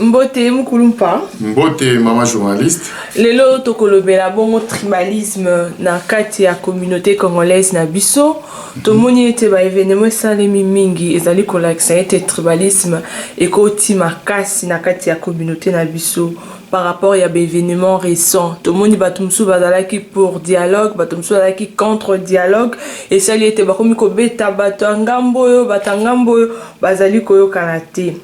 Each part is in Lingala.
Mbote Mukulumpa. Mbote mama journaliste. Lelo tokolobela bongo tribalisme na kati ya communauté congolaise na biso. Tomoni ete ba événements esalemi mingi ezali kolakisa ete tribalisme ekoti makasi na kati ya communauté na biso par rapport ya ba événements récents. Tomoni bato mosusu bazalaki pour dialogue, bato mosusu bazalaki contre dialogue. Esali ete bakomi kobeta bato ya ngambo oyo, bato ya ngambo oyo bazali koyokana te.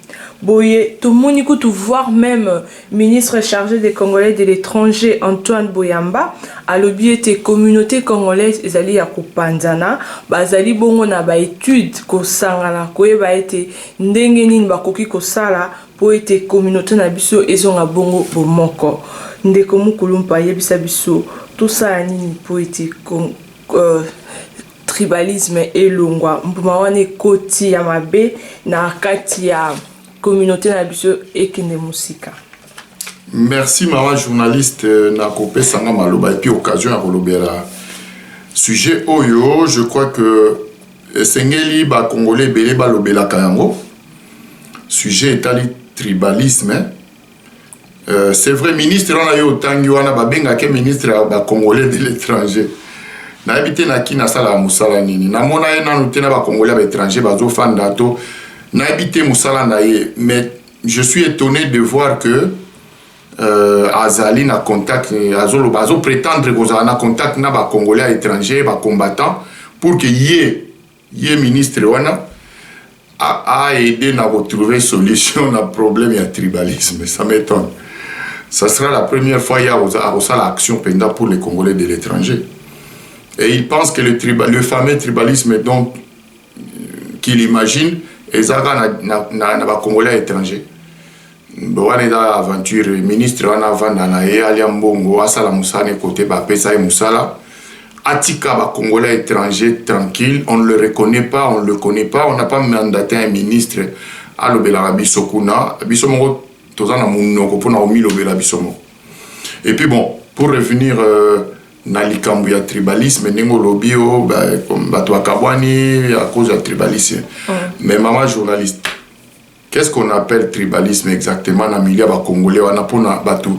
Boye tomoni kutu voir meme ministre charge des congolais de l'etranger Antoine Boyamba alobi ete communaute congolaise ezali ya kopanzana bazali bongo na ba etudes kosangana koyeba ete ndenge nini bakoki kosala po ete communaute na biso ezonga bongo bomoko ndeko Mukulumpa yebisa biso tosala nini po ete euh, tribalisme elongwa mbuma wana ekoti ya mabe na kati ya communauté na biso ekende mosika merci mama journaliste na kopesa nga maloba epuis occasion ya kolobela sujet oyo je crois que esengeli bacongolais ebele balobelaka yango sujet etali tribalisme Euh, c'est vrai ministre wana yo otangi wana babengake ministre ya bacongolais de l'étranger nayebi te na kini asalaka mosala nini namona ye nanu te na bacongolais ya baétranger bazofanda to nayebi te mosala na ye mais je suis étonné de voir que euh, azali na contact azoloba azoprétendre kozala na contact na bacongolais ya étranger bacombattant pour que ye Ye ministre wana a, a aide na ko trouver solution na problème ya tribalisme. Ça m'étonne. Ça sera la première fois ya akosala action penda pour les Congolais de l'étranger. Et il pense que le, triba, le fameux tribalisme donc euh, qu'il imagine ezaka na, na, na, na ba Congolais étrangers. wana eza aventure ministre wana avanda na ye alia mbongo asala mosala ne kote bapesa ye mosala atika bacongolais étranger tranquille on ne le reconnaît pas on le connaît pas on n'a pas mandaté un ministre alobelaka biso kuna biso moko toza na monoko mpona komilobela biso moko et puis bon pour revenir euh, na likambo ya tribalisme ndenge olobi o bato bakabwani à cause ya tribalisme mm. mais mama journaliste Qu'est-ce qu'on appelle tribalisme exactement na milieu ya ba congolais wana pona batu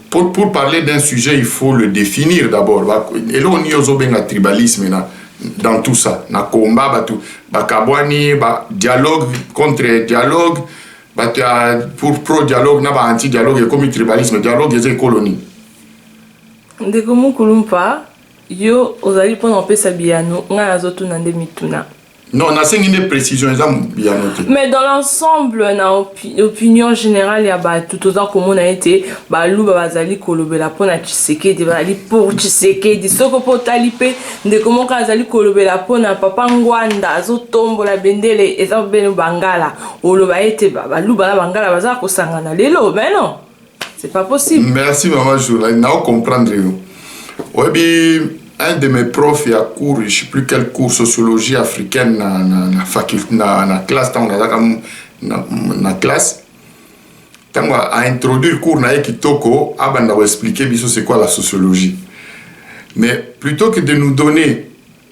pour, pour parler d'un sujet il faut le définir d'abord eloko nini ozobenga tribalisme na dans tout ça na combat batu bakabwani ba dialogue contre dialogue batu ya pour pro dialogue na ba anti dialogue ekomi tribalisme dialogue eza ekolo nini ndeko mokulu mpa yo ozali mpo na kopesa biyano ngai nazotuna nde mituna Non, nasengi nde précision eza biyano te. Mais dans l'ensemble na opi, opinion générale ya bato toza komona ete baluba bazali kolobela mpo na Tshisekedi, bazali pour Tshisekedi. Soko mpo otali mpe ndeko moko azali kolobela mpo na Papa Ngwanda azotombola bendele eza bobele Bangala. Oloba ete baluba na Bangala bazala kosangana lelo, mais non. c'est pas possible merci maman jola nao comprendre yo oyebi un de mes profs ya cours je sais plus quel cours sociologie africaine na, na, na, faculte, na, na classe ntango nazalaka na, na classe ntango aintroduire cours na ye kitoko abanda koexplike biso c'est quoi la sociologie mais plutôt que de nous donner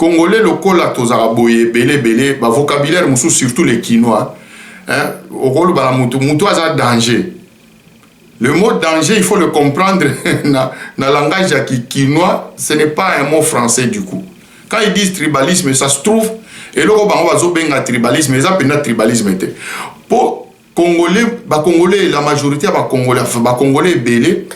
Congolais lokola tozalaka boye ebele ebele ba vocabulaire mosusu surtout les kinois hein okoloba na mutu mutu aza danger le mot danger il faut le comprendre na, na langage ya kinois ce n'est pas un mot français du coup quand ils disent tribalisme ça se trouve eloko bango bazobenga tribalisme eza mpenza tribalisme te mpo Congolais, ba Congolais, la majorité ya ba Congolais, enfin ba Congolais ebele,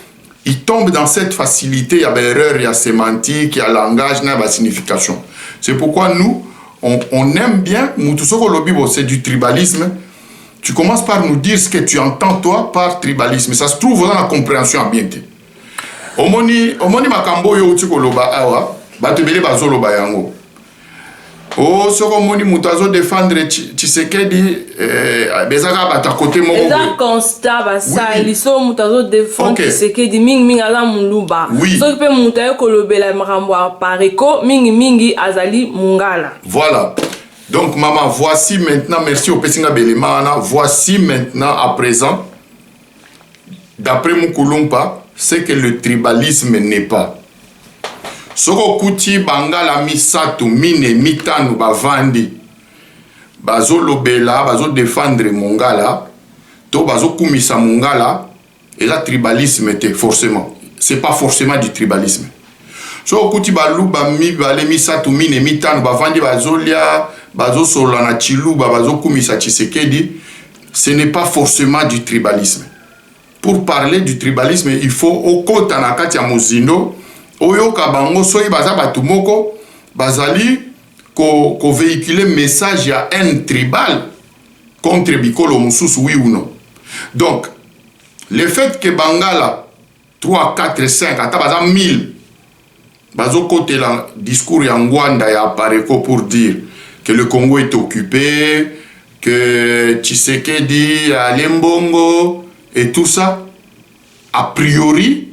ils tombent dans cette facilité ya ba erreur ya sémantique, ya langage na ba signification. C'est pourquoi nous on, on aime bien mutu soko lobi bon c'est du tribalisme. Tu commences par nous dire ce que tu entends toi par tribalisme. Ça se trouve dans la compréhension bien te. Omoni omoni makambo yo uti koloba awa, bato ebele bazoloba yango. Oh, soko moni moto azo défendre Tshisekedi eh, eza kaka bata kote moko eza constat basali oui. soko moto azo défendre okay. Tshisekedi mingi mingi aza muluba oui. soki mpe moto aye kolobela makambo ya pareko mingi mingi azali mungala voilà donc mama voici maintenant merci opesi nga belema wana voici maintenant à présent d'après mukulumpa c'est que le tribalisme n'est pas soki okuti bangala misato mine mitano bavandi bazolobela bazodefendre mongala to bazokumisa mongala eza tribalisme te forcément c'est pas forcément du tribalisme soki okuti baluba mibale misato mine mitano bavandi bazolia bazosolola na chiluba bazokumisa chisekedi ce n'est pas forcément du tribalisme Pour parler du tribalisme il faut okota na kati ya mozindo oyoka bango soki baza bato moko bazali ko, ko vehiculer message ya haine tribale contre bikolo mosusu oui ou non donc le fait que bangala 3 4 5 ata baza 1000 Bazo kotela discours ya Ngwanda ya Apareco pour dire que le Congo est occupe, que Tshisekedi ale mbongo et tout ça. A priori,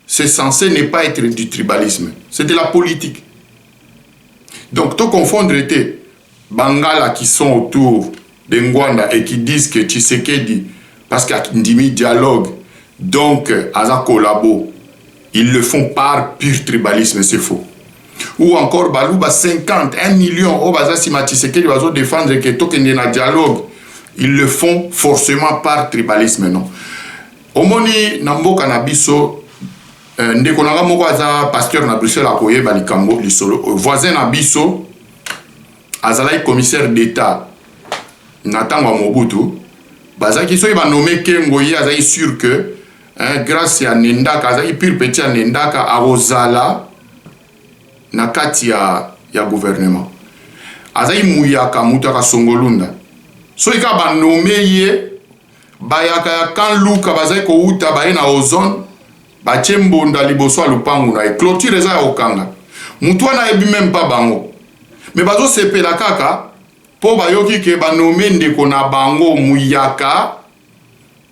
c'est censé ne pas être du tribalisme. C'est de la politique. Donc to confondre te Bangala qui sont autour de Ngwanda et qui disent que Tshisekedi parce que andimi dialogue donc aza collabo ils le font par pur tribalisme c'est faux ou encore baluba 50 1 million oyo baza nsima Tshisekedi bazo défendre que tokende na dialogue ils le font forcément par tribalisme non omoni na mboka na biso Euh, ndeko na nga moko aza pasteur na bruxelles akoyeba likambo lisolo euh, voisin na biso azalaki commissaire d'Etat na ntango ya Mobutu bazalaki soki banome Kengo ye azalaki sur que hein, grâce ya Nendaka azalaki pure petit ya Nendaka akozala na kati ya, ya gouvernement azalaki muyaka moto ya kasongolunda soki kaka banome ye bayaka ya kan luka bazalaki kowuta baye na ozone Batie mbonda liboso ya lupangu naye cloture eza ya kokanga mutu wana ayebi meme pas bango mais bazo sepela kaka po bayoki que ba nomme ndeko na bango muyaka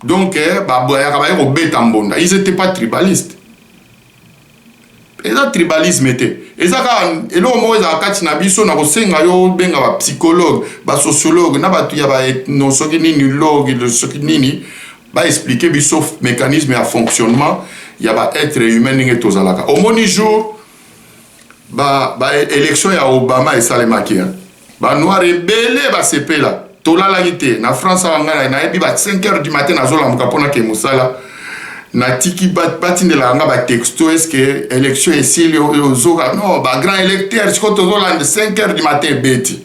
donc bayaka baye kobeta mbonda ils etaient pas tribaliste eza tribalisme te eza kaka eloko moko ezala kati na biso na kosenga yo obenga ba psychologue ba sociologue na batu ya ba ethno soki nini logue soki nini Ba expliquer biso mecanisme ya fonctionnement ya ba etre humain ndenge tozalaka. Omoni jour ba ba election ya Obama esalemaki hein. Ba noir ebele basepela. Tolalaki te na France awa ngai nayebi ba 5 heures du matin nazolamuka pona ke musala natiki batindelaka nga batexto eske élection esili ozoka no bagrand électeur sikoyo tozolanda 5 heures du matin ebeti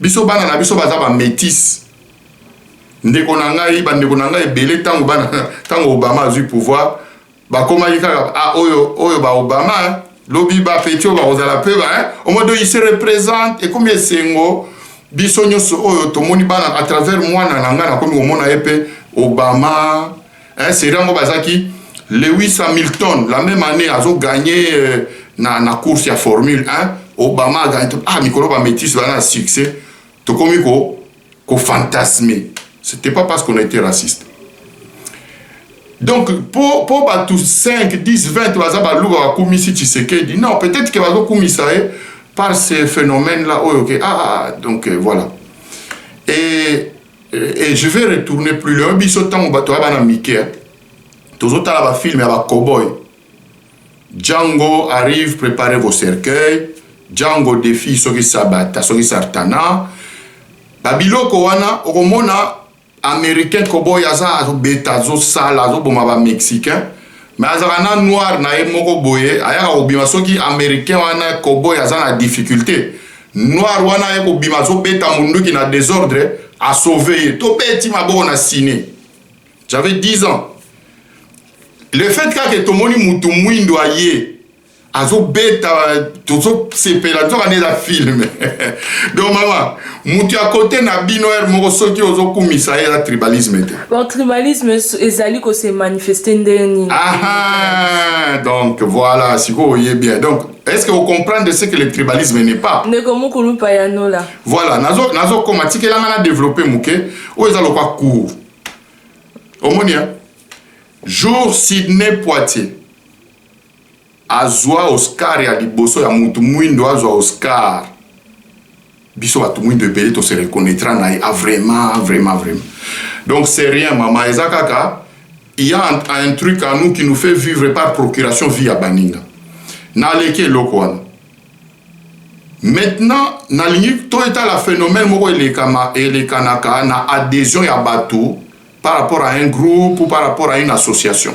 Biso bana na biso baza ba metis. Ndeko na ngai, ba ndeko na ngai ebele tango bana tango Obama azui pouvoir, bakomaki kaka ah oyo oyo ba Obama hein? lobi ba petit oyo bakozala pe ba hein? au moins il se représente ekomi esengo biso nyonso oyo tomoni bana à travers mwana na ngai nakomi komona ye pe Obama eh, seri yango bazaki lewis hamilton la même année azo gagne euh, na, na course ya formule 1 obama agagne ah mikolo bamétise bana na succès tokomi ko kofantasme c'était pas parce qu'on a été raciste donc po, po bato 5 10 20 baza baluba bakumisi tshisekedi non peut-être ke bazokumisa ye par ce phénomène là oyo ke ah, ah, ah donc euh, voilà et et je vais retourner plus loin biso ntango bato ya bana mike hein. tozotala bafilme ya bacoboy django arrive préparer vos cercueils django defi soki sabata soki sartana babiloko wana okomona américain coboy aza azobeta azosala azoboma bamexicain me azalaka na noir na ye moko boye ayaka kobima soki americain wana koboy aza na difficulté noir wana aye kobima azobeta munduki na desordre asauve ye tobeti maboko na sine j'avais 10 ans le fait kaka tomoni mutu mwindo aye azobeta tozosepela nzoka nde eza filme donc mama moto ya kote na bino ere moko soki ozokumisa ye eza tribalisme te bon tribalisme ezali kose manifeste ndenge nini aha donc voilà sikoyo oye bien donc est-ce que ocomprendre ce que le tribalisme n'est pas ndeko mokulu payanola voilà nazokoma nazo tikelanga na développe moke oyo eza lokwa cour omoni ya jour sidney poitier Azua Oscar ya liboso ya mutu muindu azua Oscar biso batu muindu ebele to se reconnaitre na ye a vraiment vraiment vraiment donc c'est rien maman eza kaka il y a un truc à nous qui nous fait vivre par procuration vie ya baninga na leki eloko wana maintenant nalingi to etala phénomène moko elekama elekanaka na adhesion ya bato par rapport à un groupe ou par rapport à une association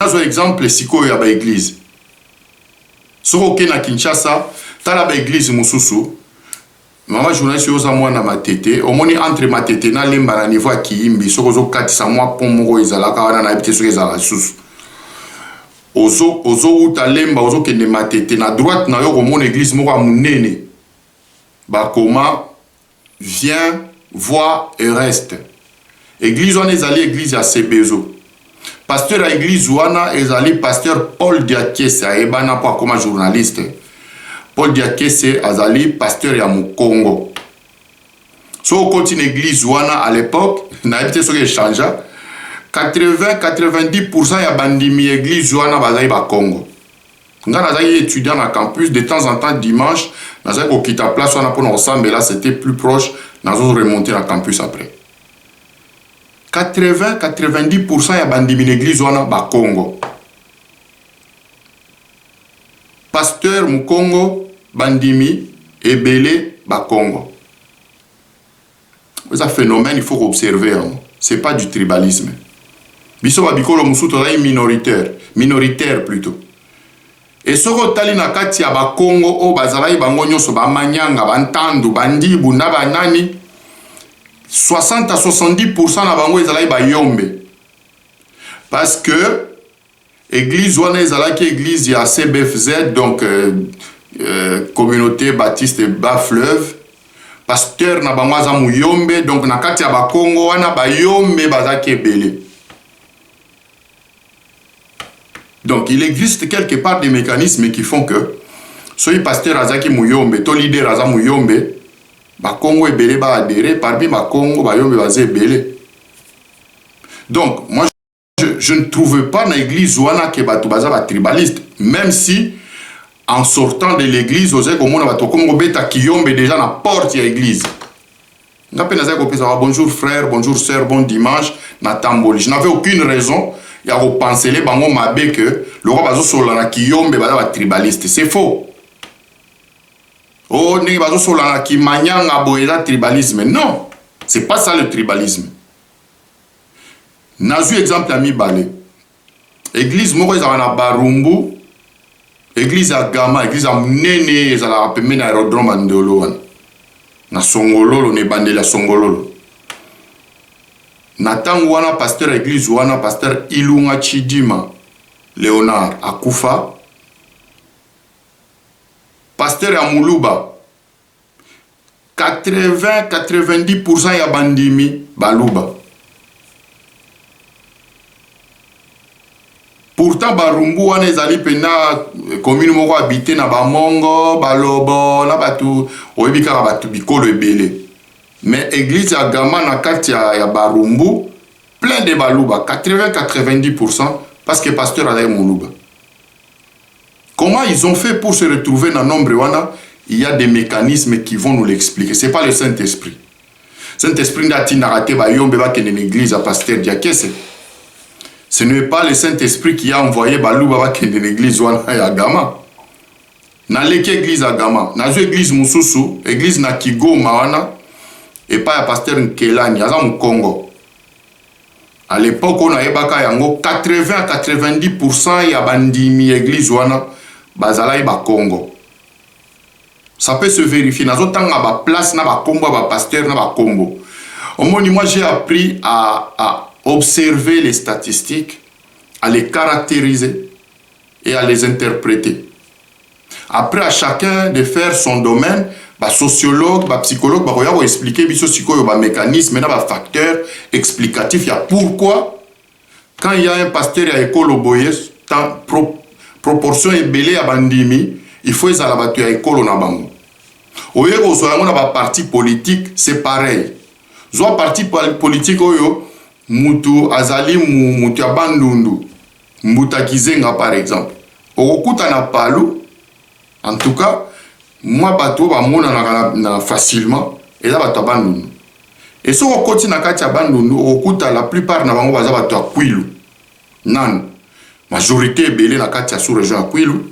Nazwa exemple sikoyo ya ba eglises. Soki oke na Kinshasa, tala ba eglises mosusu, maman journaliste yo oza mwana Matete, omoni entre Matete na Lemba na niveau ya Kiyimbi, soki ozo katisa mwa pont moko ezalaka wana, nayebi te soki ezalaka lisusu. Ozo, ozo wuta Lemba, ozo kende Matete, na droite na yo okomona eglise moko ya monene, bakoma Viens voir Eureste. Eglise wana ezali eglise ya Sebezo. Pasteur ya eglise wana ezali pasteur Paul Diakese ayebana mpo akoma journaliste. Paul Diakese azali pasteur ya Mukongo. So okoti na eglise wana à l'époque, nayebi te soki echangea 80-90% ya bandimi ya eglise wana bazali bakongo Nga nazalaki etudiant na campus, de temps en temps dimanche nazalaki kokita place wana pona kosambela, c'etait plus proche, nazo remonter na campus après. 80, 90 pourcent ya bandimi na eglise wana bakongo. Pasteur mukongo, bandimi ebele bakongo. eza phenomène il faut ko observer yango c'est pas du tribalisme biso ba bikolo mosusu tozali minoritaire minoritaire plutot et soki otali na kati ya ba Kongo oyo bazalaki bango nyonso ba Manyanga ba Ntandu ba Ndibu na ba nani 60 à 70% na bango ezalaki ba Yombe parce que Eglise wana ezalaki eglise ya CBFZ, donc euh, euh, communauté baptiste bas fleuve. Pasteur na bango aza muyombe, donc na kati ya bakongo wana bayombe bazaki ebele. Donc il existe quelque part des mécanismes qui font que soki pasteur azaki muyombe to leader aza muyombe, bakongo ebele ba adhéré, parmi bakongo bayombe baza ebele. Donc moi je, je ne trouve pas na église wana ke bato baza ba tribaliste même si en sortant de l'église ozali komona bato bakomi kobeta kiyombe déjà na porte ya église nga mpe nazali kopesaka bonjour frère bonjour sœur bon dimanche natamboli je n'avais aucune raison ya kopansele bango mabe ke lokwa bazosolola na kiyombe baza batribaliste c'est faux o oh, ndenge bazosolola na kimanyanga boye eza tribalisme non c'est pas ça le tribalisme Nazui exemple ya mibale. Eglise moko ezalaka na Barumbu, eglise ya Gama, eglise ya munene ezalaka pembeni ya aerodrome ya Ndolo wana. Na Songololo, na ebandeli ya Songololo. Na tango wana pasteur ya eglise wana, pasteur Ilunga Chidima Leonard akufa. Pasteur ya Muluba 80 90 pourcent ya bandimi baluba pourtant barumbu wana ezali mpenza eh, commune moko habite na bamongo balobo na bato oyebi kaka bato bikolo ebele mais église ya gama na kati ya, ya barumbu plein de baluba 80 90 pourcent parce que pasteur azali moluba Comment ils ont fait pour se retrouver na nombre wana il ya des mecanismes qui vont nous l'expliquer c'est pas le saint esprit saint esprit nde atindaka te bayombe bakende na église ya pasteur diakese ce n'est pas le saint esprit qui a envoyé baluba bakende na église wana ya gama naleki église ya gama nazwi église mosusu église na kigoma wana epai ya pasteur nkelani aza mokongo A l'epoque oyo nayebaka yango 80 à 90 pourcent ya ba ndimi ya eglise wana bazalaki ba kongo. Ça peut se verifier. Nazo tanga ba place na ba kombo ya ba pasteur na ba kombo. Omoni moi j'ai appris à, à observer les statistiques, à les caractériser et à les interpréter. Après à chacun de faire son domaine, ba sociologues, ba psychologues bakoya ko expliquer biso sikoyo ba mecanismes na ba facteurs explicatifs ya pourquoi quand il y a un pasteur ya ekolo boye tant pro, proportion ebele ya bandimi il faut ezala bato ya ekolo na bango. Oye kozwa yango na ba partis politiques, c'est pareil. Zwa parti politique oyo mutu azali mutu ya Bandundu, Mbuta Kizenga par exemple okokuta na Palu en tout cas mwa bato oyo bamonanaka na, na facilement eza bato ya Bandundu e soki okoti na kati ya Bandundu okokuta la plupart na bango baza bato ya Kwilu nanu majorité ebele na kati ya sous region ya Kwilu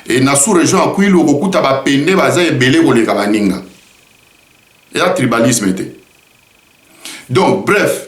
e na sous region ya Kwilu okokuta bapende baza ebele koleka baninga eza tribalisme te donc bref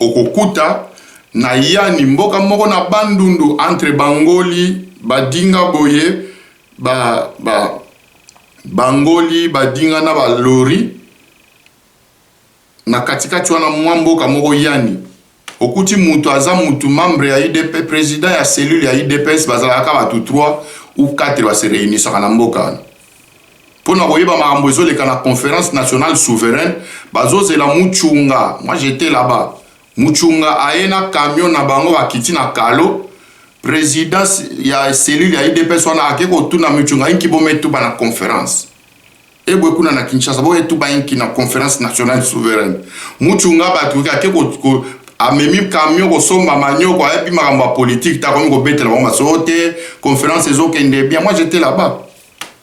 Okokuta na yani mboka moko na bandundu entre bangoli badinga boye ba ba bangoli badinga na ba lori na katikati wana mwa mboka moko yani okuti mutu aza mutu membre ya udps president ya cellule ya udps bazalaka ka batu 3 ou 4 ba se reunisaka na mboka wana Mpo na koyeba makambo ezoleka na Conference Nationale Souveraine, bazozela Muchunga, moi j'etais là-bas, Muchunga aye na camion na bango bakiti na Kalo, president ya cellule ya udps wana ake kotuna Muchunga inki bometuba na conference ebwe kuna na Kinshasa boyetuba inki na Conference Nationale Souveraine. Muchunga bato ake amemi camion kosomba manioko ayebi makambo ya politique te akomi kobetela bango maso te conference ezokende bien moi j'etais là-bas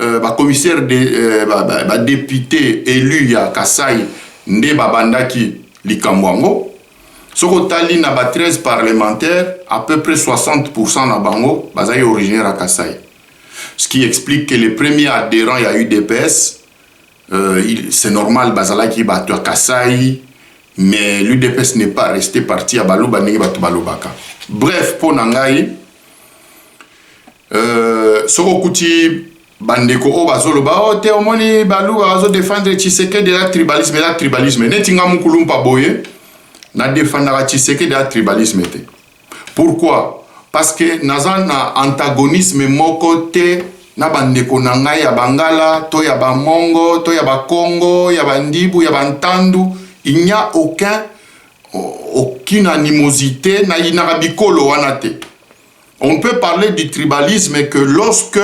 euh, ba commissaire de euh, ba, ba, ba député élu ya Kasai nde babandaki likambo yango soki otali na ba 13 parlementaire à peu près 60 na bango bazali originaire ya Kasai ce qui explique que les premiers adhérents ya UDPS euh, c'est normal bazalaki bato ya Kasai mais l'UDPS n'est pas resté parti ya baluba ndenge bato balobaka bref mpo na ngai Euh, soki okuti bandeko oyo bazoloba o oh, te omoni baluba bazodefendre tshisekedi eza tribalisme eza tribalisme neti nga mokulumpa boye nadefandaka tshisekedi ya tribalisme te pourquoi parce que naza na antagonisme moko te na bandeko na ngai ya bangala to ya bamongo to ya bakongo ya bandibu ya bantandu il n'y a aucun aucune animosité nayinaka bikolo wana te On peut parler du tribalisme que lorsque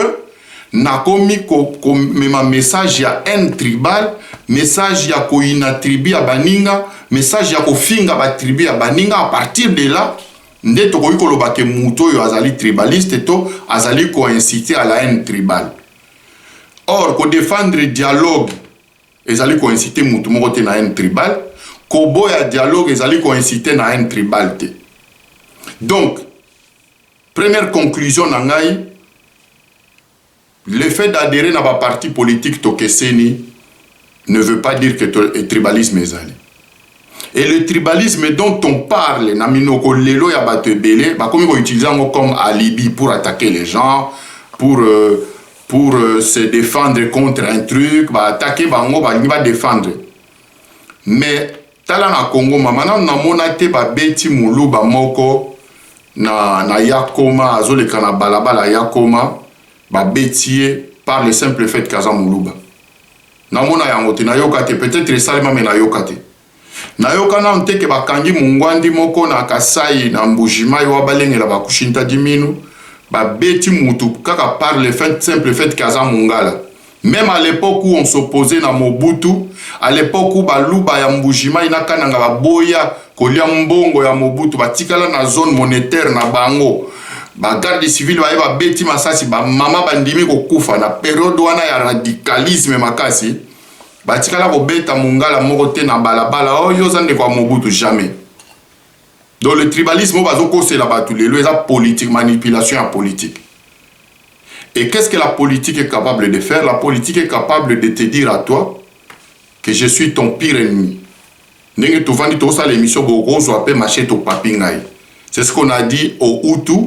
nakomi komema ko message ya haine tribal, message ya koyina tribu ya baninga, message ya kofinga ba tribu ya baninga, à partir de là nde tokoki koloba ke moto oyo azali tribaliste to azali koincite à la haine tribale. Or, kodefendre dialogue Ezali ko inciter mutu moko te na haine tribale. Koboya dialogue ezali ko inciter na haine tribale te. Donc, première conclusion na ngai, le fait d'adherer na ba partis politiques tokeseni ne veut pas dire que tribalisme ezali. Et le tribalisme dont on parle, na minoko lelo ya bato ebele, bakomi ko utiliser yango comme alibi pour attaquer les gens, pour euh, pour euh, se défendre contre un truc ba attaquer bango balingi ba défendre mais tala na Congo mama nanu namona te babeti muluba moko na, na yakoma azoleka na balabala yakoma babeti ye par le simple fait kaza muluba namona yango te nayoka te peut-être esalema me nayoka te Nayoka nanu te ke bakangi mungwandi moko na Kasaï na Mbujimayi wa balengela ba Kushinta Diminu, babeti mutu kaka par le fait simple fait ke aza mungala. Meme à l'epoque où on s'opposait na Mobutu, à l'epoque où baluba ya Mbujimayi na Kananga baboya kolia mbongo ya Mobutu, batikala na zone monetaire na bango, ba gardes civils baye babeti masasi, ba mama bandimi kokufa na periode wana ya radicalisme makasi. batikala kobeta mongala moko te na balabala oyo oh, oza ndeko ya mobutu jamais donc le tribalisme oyo bazokosela bato lelo eza politique manipulation ya politique et qu'est ce que la politique est capable de faire la politique est capable de te dire à toi que je suis ton pire ennemi ndenge tovandi tokosala émission bokozwa mpe machete opapi ngai c'est ce qu'on a dit au hutu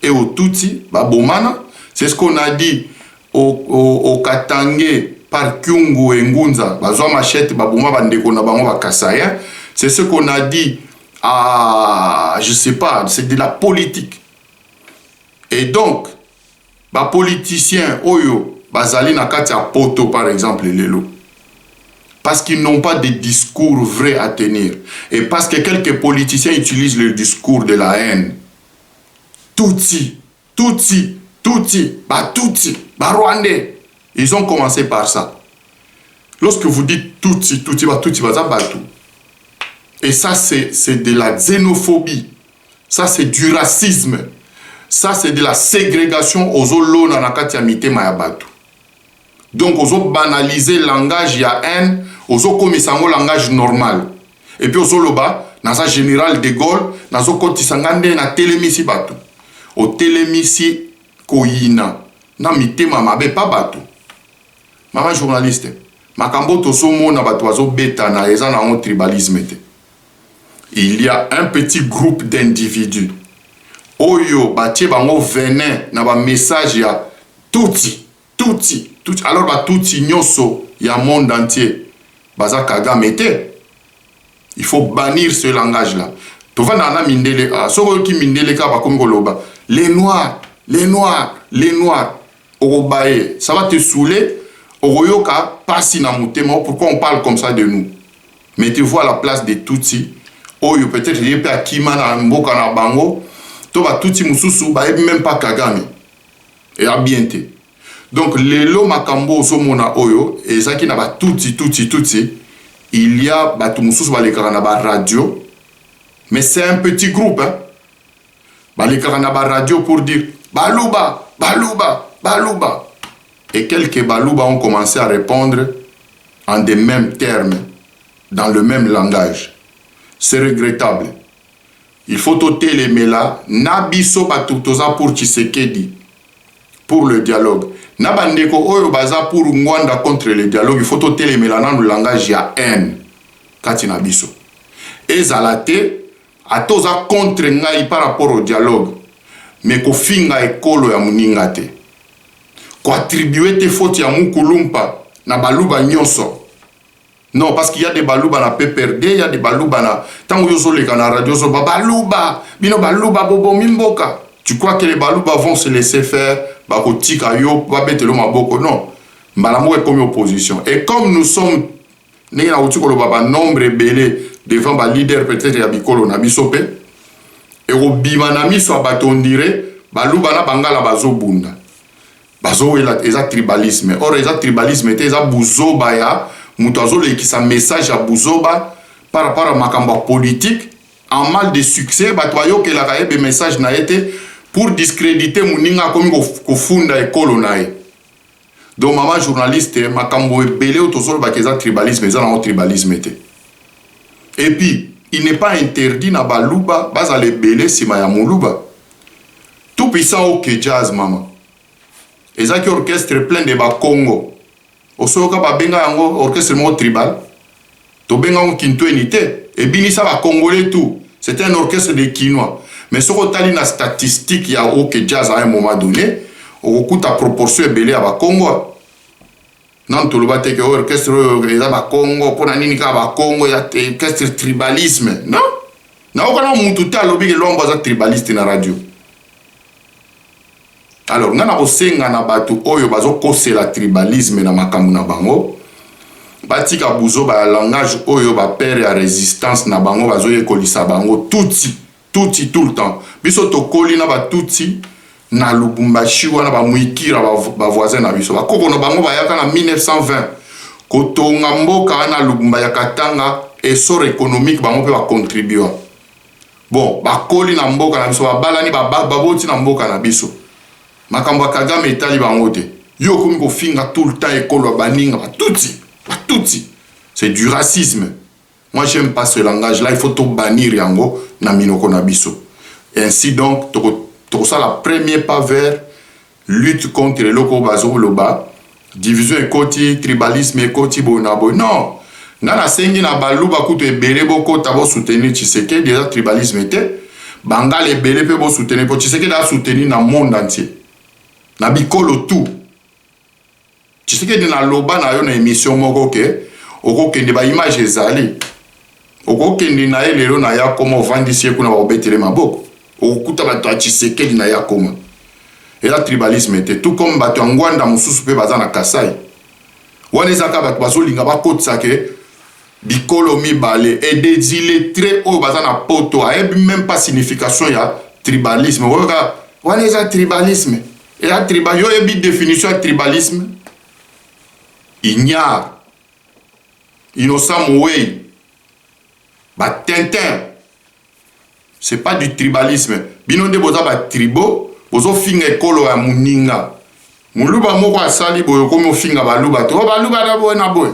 et au tutsi babomana c'est ce qu'on a dit O o o Katangais par Kyungu et Ngunza bazwa machette baboma ba ndeko na bango ba Kasaïens c'est ce qu'on a dit à je sais pas c'est de la politique et donc ba politiciens oyo bazali na kati ya poto par exemple lelo parce qu'ils n'ont pas de discours vrai à tenir et parce que quelques politiciens utilisent le discours de la haine tutsi Tutsi, tutsi, ba tutsi, ba rwandais, ils ont commence par ça. Lorsque vous dites tutsi, tutsi, ba tutsi, baza batu. Et ça, c'est de la xénophobie. Ça, c'est du racisme. Ça, c'est de la ségrégation aux olona na kati ya mitema ya batu. Donc ozo banaliser langage ya haine, ozo komisa yango langage normal. Et puis ozo loba naza general de Gaulle, nazo kotisa nga nde na telemisi batu. Otelemisi koyina na mitema mabe pas batu. Mama journaliste, makambo tozo mona batu bazo betana eza na yango tribalisme te. Il y a un petit groupe d'individus oyo batie bango venin na ba message ya tutsi. Tutsi tutsi alors ba tutsi nyoso ya monde entier baza kagame te? Il faut bannir ce langage là tovandaka na mindele awa soki oyoki mindele kaka bakomi koloba les noirs les noirs les noirs okobaye ça va te saouler okoyoka pasi na motema oh, pourquoi on parle comme ça de nous mais tu vois la place des tutsi oyo peut-être ye mpe akima na mboka na bango to batutsi mosusu bayebi meme pas kagame Eza bien te. Donc lelo makambo ozomona oyo ezaki na ba tutsi tutsi tutsi il y a batu mususu balekaka na ba radio mais c'est un petit groupe hein? balekaka na ba radio pour dire baluba baluba baluba et quelques baluba ont commencé à répondre en des mêmes termes dans le même langage c'est regrettable Il faut to telemela na biso batu toza pour tshisekedi pour le dialogue na ba ndeko oyo baza pour ngwanda contre le dialogue il faut to telemela nanu langage ya haine kati na biso ezala te ata oza contre ngai par rapport au dialogue mais kofinga ekolo ya muninga te koattribue te faute ya mukulumpa na baluba nyonso Non parce qu'il y a des baluba na PPRD, il y a des baluba na tango yo zoleka na radio zo ba baluba, bino baluba bobomi mboka. Tu crois que les baluba vont se laisser faire bakotika yo babetelo maboko non. Mbala moko ekomi opposition. Et comme nous sommes ndenge na uti koloba ba nombre ebele devant ba leader peut-être ya bikolo na biso pe ekobima na miso ya bato on dirait baluba na bangala bazobunda. bazowela eza tribalisme or eza tribalisme te eza buzoba ya moto azolekisa message ya buzoba par rapport ya makambo ya politique en mal de succès bato bayokelaka ye be message na ye te pour discrédite moninga akomi kofunda ekolo na ye donc mama journaliste makambo ebele oyo tozolobaka eza tribalisme eza nango tribalisme te epuis il n'est pas interdit na baluba bazala ebele nsima ya moluba Tout puissant ok jazz maman eza ki orchestre plein de ba kongo osoyoka ba benga yango orchestre moko tribal tobenga yango kintueni te ebinisa ba congolais tout c'est un orchestre de kinois mais soki otali na statistique ya ok jazz à un moment donné okokuta proportion ebele ya ba kongo Non toloba te ke orchestre oyo eza ba Kongo mpo na nini kaka ba Kongo ya orchestre tribalisme non naokana mutu te alobi ke Luambo aza tribaliste na radio alors ngai nakosenga na bato oyo bazokosela tribalisme na makambo na bango batika buzoba ya langage oyo bapere ya resistance na bango bazoyekolisa bango tutsi Tutsi tout le temps biso tokoli na ba tutsi na lubumbashi wana ba muikira ba voisin na biso ba koko na bango bayaka na 1920 kotonga mboka wana lubumba ya katanga essor economique bango pe ba contribua bon bakoli na mboka na biso babalani ba baboti na mboka na biso makambo ya kagame etali bango te yo okomi kofinga tout le temps ekolo ya baninga ba tutsi ba tutsi c'est du racisme Moi j'aime pas ce langage là il faut to bannir yango na minoko na biso ainsi donc toko tokosala premier pas vers lutte contre eloko oyo bazoloba division ekoti tribalisme ekoti boye na boye non nga nasengi na baluba kutu ebele bokota bosoutenir tshisekedi eza tribalisme te bangala ebele mpe bosoutenir mpo tshisekedi asoutenir na monde entier na bikolo tout Tshisekedi na loba na yo na emission moko ke okokende ba image ezali okokende na ye lelo na yakoma ovandisi ye kuna bakobetele maboko okokuta bato ya Tshisekedi na yakoma eza tribalisme te tout comme bato ya ngwanda mosusu mpe baza na kasai wana ezaka bato bazolinga bakotisa ke bikolo mibale et des illettrés oyo baza na poto ayebi meme pas signification ya tribalisme oyoka wana eza tribalisme Et à tribal, yo yebi définition ya tribalisme Ignare, Innocent Mouwei, ba Tintin, c'est pas du tribalisme. Bino nde boza ba tribaux, bozo finga ekolo ya muninga. Muluba moko asali boye okomi ofinga baluba te. Oh baluba na boye na boye.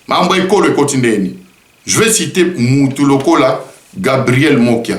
Mambo ekolo ekoti ndeni. Je vais citer mutu lokola Gabriel Mokia.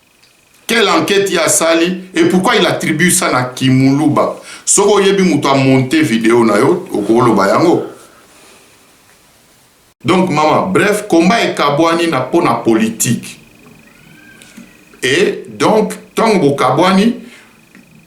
Quelle enquete ye asali et pourquoi il attribue ça na ki muluba? Soki oyebi mutu a monter video na yo oko loba yango. Donc mama bref combat ekabuani na pona politique et donc tango bokabwani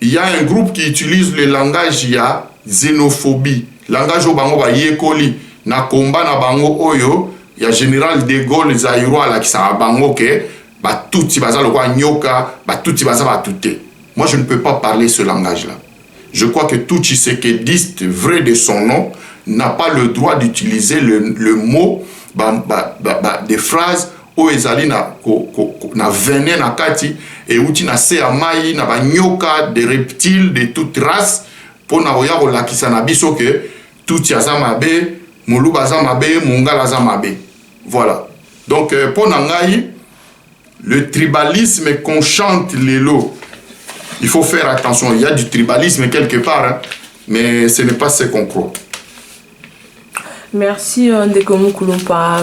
Il ya un groupe qui utilise le langage ya xenophobie, langage oyo bango bayekoli na combat na bango oyo ya general de Gaulle zaïrois alakisaka bango ke ba tutsi baza lokola nyoka, ba tutsi baza batu te. Moi je ne peux pas parler ce langage là. Je crois que tout tshisekediste vrai de son nom n'a pas le droit d'utiliser le, le mot ba, ba, ba, ba, des phrases oyo ezali na, ko, ko, ko, na vene na kati euti na se ya mai na banyoka de reptile de toute race mpo na koya kolakisa na biso ke tutsi aza mabe moluba aza mabe mongala aza mabe voilà donc euh, mpo na ngai le tribalisme qu'on chante lelo il faut faire attention il y a du tribalisme quelque part hein, mais ce n'est pas ce qu'on croit merci euh, ndeko mukulumpa